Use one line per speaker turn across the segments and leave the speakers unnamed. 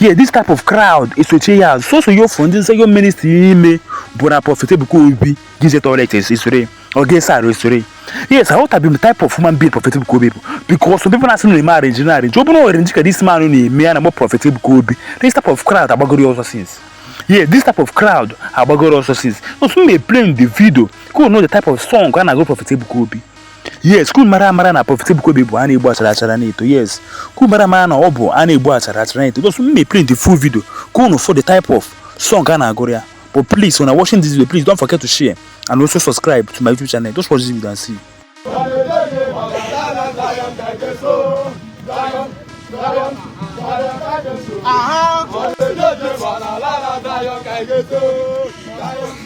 yeah this type of crowd esochie ya azụ soso ya ofu ndị Zion ministri n'ime bụ na prọfet Ebuka Obi gize toilet esore ọ ga-ese arụ esore yes I want to be the type of human being prọfet Ebuka Obi bụ because some people na-asị na eme arrange na arrange ọ bụrụ arrange ka this man na-eme ya na mọ prọfet Ebuka Obi this type of crowd agbagoro ọsọ since yeah this type of crowd agbagoro ọsọ since so m mee play the video ka unu nụ the type of song a na-agụ prọfet Ebuka Obi yes ka unu mara amara na prọfet ebuka obi bụ a na-egbu achara achara na-eto yes ka unu mara amara na ọ bụ a na-egbu achara achara na-eto because m play the full video ka unu fụ the type of song a na-agụrụ ya but please when i watching this video please don't forget to share and also subscribe to my youtube channel just watch this video and see Aha!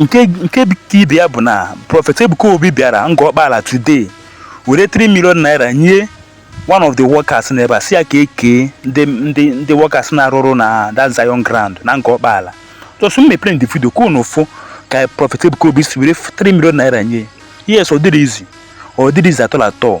nke nke ka ibe ya bụ na prọfet ebuka obi bịara Ngor Okpala today were 3 million naira nye one of the workers na ebe a sị ya ka e kee ndị ndị ndị workers na-arụ ọrụ na that zion ground na Ngor Okpala just m mee play the video ka unu fụ ka prọfet ebuka obi si were 3 million naira nye yes ọ dịrọ easy ọ dịrọ easy at all at all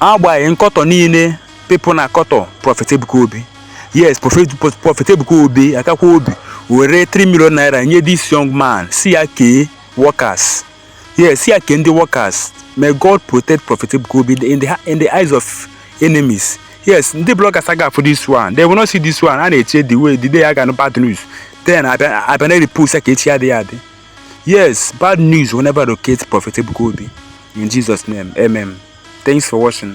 agbanyeghị nkọtọ niile people na-akọtọ prọfet Ebuka Obi yes prọfet Ebuka Obi akakwa obi were 3 million naira nye this young man sị ya kee workers Yes, sị ya kee ndị workers. May God protect Prophet Ebuka Obi in the, in the eyes of enemies. Yes, ndị bloggers aga afụ this one. They will not see this one. A na-eche the way the day a ga-anụ bad news. Then a bịa na-erepost ya ka echi adịghị adị. Yes, bad news will never locate Prophet Ebuka Obi. In Jesus' name, amen. Thanks for watching.